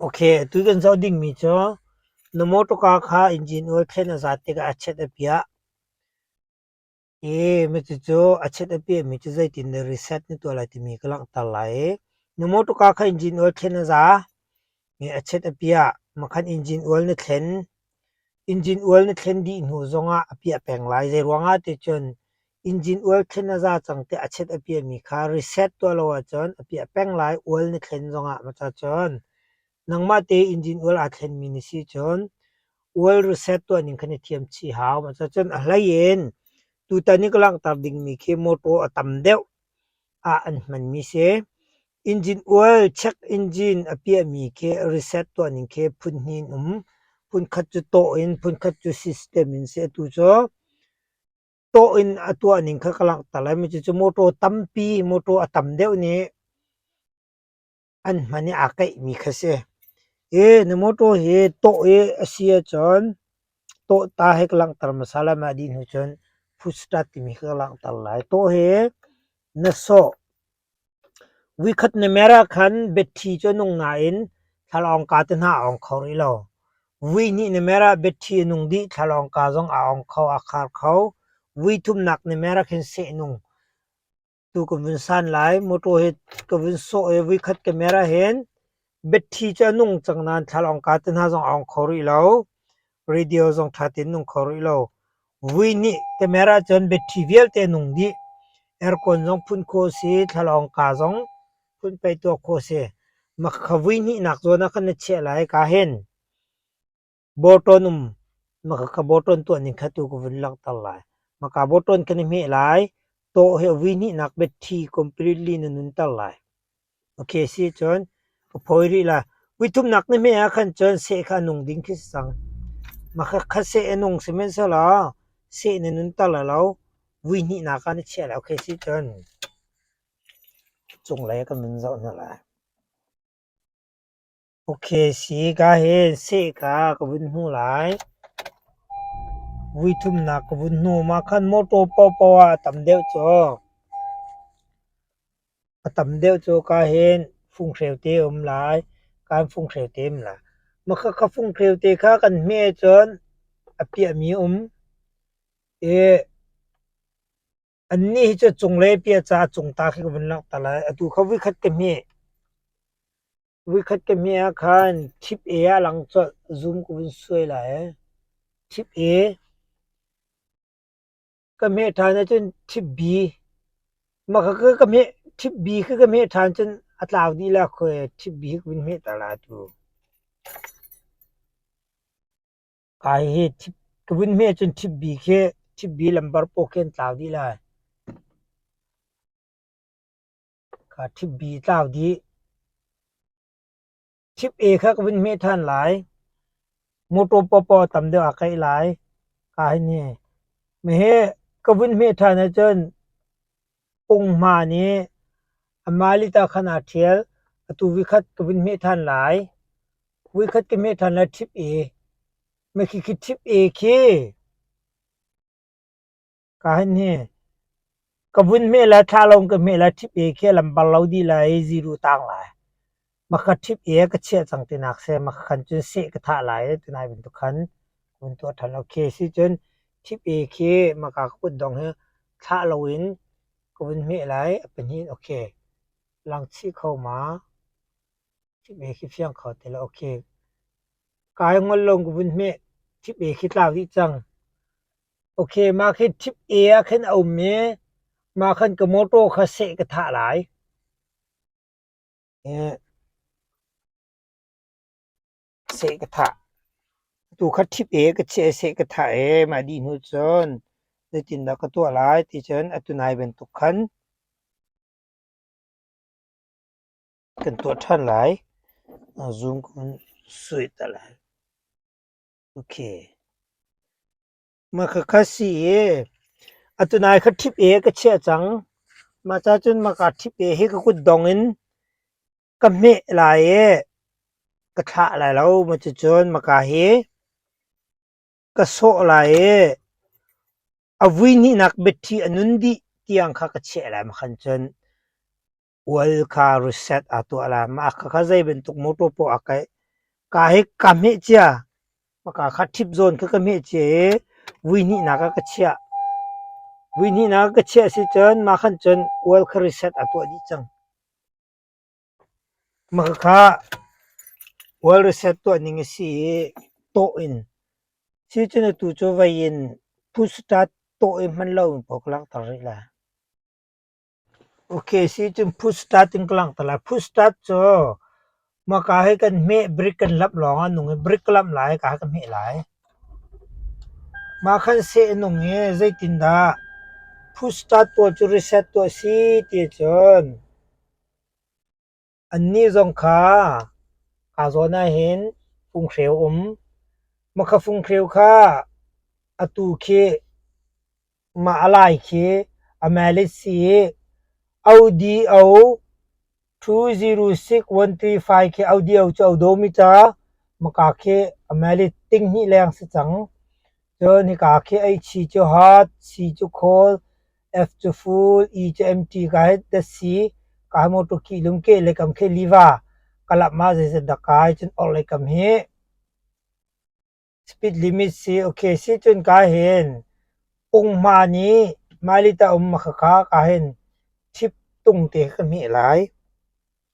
Ok, tu kan zoh dingmi cu na motor car kha engine oil khen a zat tikah a chiat a piah. I cucu a chiat a piahmi cu zeitin na reset na tuah lai timi ka langhter lai i na motor car kha engine oil khen a za i a chiat a piah. Makhan engine oil na thlen. Injin ual na thlen dih hnu zongah a piah peng lai, zeiruangah ticun injin ual thlen a za cang tiah a chiat a piami kha reset tuah lo ahcun a piah peng lai ual na thlen zongah macacun nangmah te injin ual aa thlenmi na si cun ual reset tuahning khan i thiam chih hau macacun a hlei in tutan i ka langhter dingmi khi motor a tam deuh ah an hmanmi si. Injin ual check engine a piahmi khi reset tuah ning khi phun hnih in um. Phunkhat cu tawh in, phunkhat cu system in si. Atu cu tawh in a tuah ning kha ka langhter lai. Cucu motor tampi, motor a tam deuh nih an hman i aa kaihmi kha si. Hi na motor hi tawh i a si ahcun tawhta hi ka langhter hmasa lai. Mah dih hnu cun push start timi khi ka langhter lai. Tawh hi na sawh Vuikhat na mer ahkhan betthi cu a nung nain thlalawng ka te hna a ong kho rih lo. Vui hnih na mer ah betthi a nung dih thlalawng ka zong a ong kho a khar kho. Vui thumnak na mer ahkhin sehnung tu ka vun san lai. Mawṭaw hi ka vun sawh i vuikhat ka mer ahhin Biaṭhi cu a nung cang nain thlalawng kaa te hna zong a ong kho rih lo. Radio zong ṭha tein nung kho rih lo. Vui nih te mer ahcun biaṭhi vialte a nung dih. Aircon zong phun khawh a si. Thlalawng kaa zong phun pei tuah khawh a si. Makha vui hnihnak zawn ah kan na chiah lai kaa hen. Bawṭawn um maka ka bawṭawn tuah ning kha tu ka vun langhter lai. Maka bawṭawn kan i hmeh lai. Taw he vui hnihnak betthi completely na nunter lai. Okay, si cun ka phawi rih la. Vui thumnak na hmeh ah khan cun seh kha a nung ding khi si cang. Maka kha seh a nung sihmanhsehlaw seh na nunter lai lo. Vui hnihnak ah na chiah lai. Okay, si cun cunglei ah kan vun zoh hna lai. Okesi ka hen seh ka ka vun hmuh lai. Vui thumnak ka vun hnuam ah khan mawṭaw paohpaoh ah a tam deuh cu. A tam deuh cu ka hen funghreu te a um lai. Kan funghreu te um lai. Maka ka funghreu te kha kan hmeh ahcun a piahmi um. I Annih hi cu cunglei pia caah cungta khi ka vun langhter lai. Atu kha voikhat ka hmeh. Voikhat ka hmeh ah khan tip A ah lang colh. Zoom ka vun suai lai. Tip A. Ka hmeh ṭhan ahcun tip B. Mah kha ka hmeh, tip B khi ka hmeh ṭhan cun a tlau dih la khawi. Tip B hi ka vun hmehter lai atu. Kai hi ka vun hme cun ṭhibbi khi ṭhibbi lambar paw khi an tlau dih lai. Ka ṭhibbi tlau dih. Ṭhib-e kha ka vun hme ṭhan lai. Motor paw tam deuh ah kaih lai. Ka hi ni. Meh hi ka vun hme ṭhan ahcun Ung Hma nih amah lit ah khan aa ṭhial, atu voikhat ka vun hmeh ṭhan lai. Voikhat ka hmeh ṭhan lai ṭhip i mekhikhit ṭhip e khi ka han hne. Ka vun hmeh lai, thla lawng ka hmeh lai ṭhip e khi a lam bal lo dih lai, ziru tang lai. Maka ṭhip i ka chiah cang tinak seh maka khan cun seh ka thah lai tinai bantuk khan ka hun tuah ṭhan lo. Khi a si cun ṭhip i khi maka ka kut dong hi thlah loin ka vun hmeh lai a pahnih in okay. Langchih kho ma? Ṭhip i khi fiang kho ti lo. Okay. Kai ngol lo ka vun hmeh. Ṭhip i khi tlau dih cang. Okay, ma khi ṭhip i ah khan a um i ma khan ka mawṭaw kha seh ka thah lai. Seh ka thah. Atu kha ṭhip e ka cheh seh ka thah e mah dih hnu cun zeitindah ka tuah lai ticun atu nai bantuk khan kan tuah ṭhan lai. Zoom kong sui ta lai. Okay. Maka kha si i atu nai kha ṭhip e ka chiah cang. Mah cacun maka ṭhip e hi ka kut dong in ka hmeh lai i ka thlah lai lo. Cucun maka hi ka sawh lai i a vui hnihnak biaṭhi a nun dih tiang kha ka chiah lai. Makhan cun Ual kha reset a tuah la ma kha kha zei bantuk motor poh a kai ka hi ka hmeh cia maka kha thip zawn kha ka hmeh cia i vui hnih nak ah ka chiah vui hnih nak ah ka chiah si cun mah khan cun ual kha reset a tuah dih cang maka kha ual reset tuah ning a si i tawh in si cun atu cu vei in pusta tawh i hman lo in poh ka langhter rih la. Okay si cun Foodstutt in ka langh te lai. Foodstutt cu hmaka hi kan hmeh brick kan lamh lawngah a nung i brick ka lamh lai i ka ha ka hmeh lai. Mah khan seh a nung i zeitindah Foodstutt pawl cu reset tuah a si ti ahcun Annih zong kha aa zawn ahhin funghreu um. Mah funghreu kha atu khi mah a lai khi a melit si i ODO 206135 khi ODO cu a domi ca maka khi a melit tinghnih leng si cang. Cun hika khi ei chi cu hat, si cu khawl, ef cu ful, i cu emṭi ka hi dasi, kaa hi mawṭaw kih lum keh le kam khi liva, ka lamh ah zeizat dah kai cun orh le kam hi. Speed limit si, okay si cun ka hin ung-hma nih mailita um a khakha ka hin ṭhip tung te kha ka hmeh lai.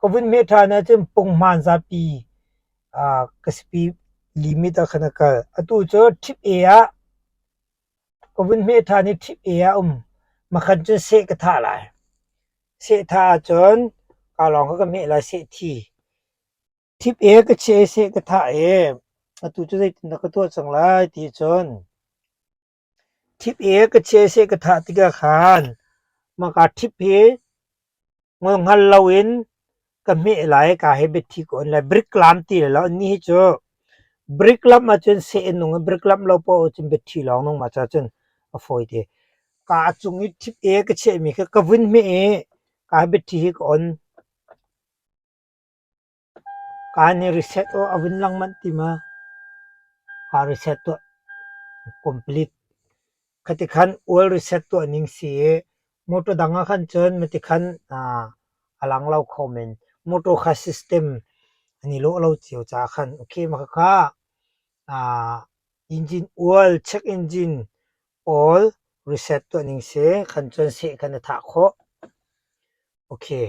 Ka vun meh ṭhan ahcun punghmaan zapi ah ka sipi limit ah khan a kal. Atu cu ṭhip e ah ka vun meh ṭhan i ṭhip e ah um makhan cun seh ka thah lai. Seh thah ahcun kaa lawng kha ka meh lai seh thi. Ṭhip e ka chiah i seh ka thah i atu cu zeitindah ka tuah cang lai ti cun Thip i ka chiase ka thah tikah khan maka thip hi ngolhngal loin ka hmeh lai i kaa he biathi ka on lai. Brick lam ti lai lo. Ni hi cu brick lamh ahcun seh nung i brick lamh lo poah ahcun biathi lawng nung mas ahcun a fawi te. Kaa cung i thip i ka chehmi kha ka vun hmeh i kaa biathi hi ka on. Kaa nih reset aw a vun lang manh ti ma, kaa reset tuah complete. Khati khan oil reset tuah ning si i motor dang ah khan cun mati khan a lang lo kho men. Motor kha system an i lawh lo cio caah khan. Okay, mah khakha engine oil, check engine oil reset tuah ning si. Khan cun seh khan na thah khawh. Okay.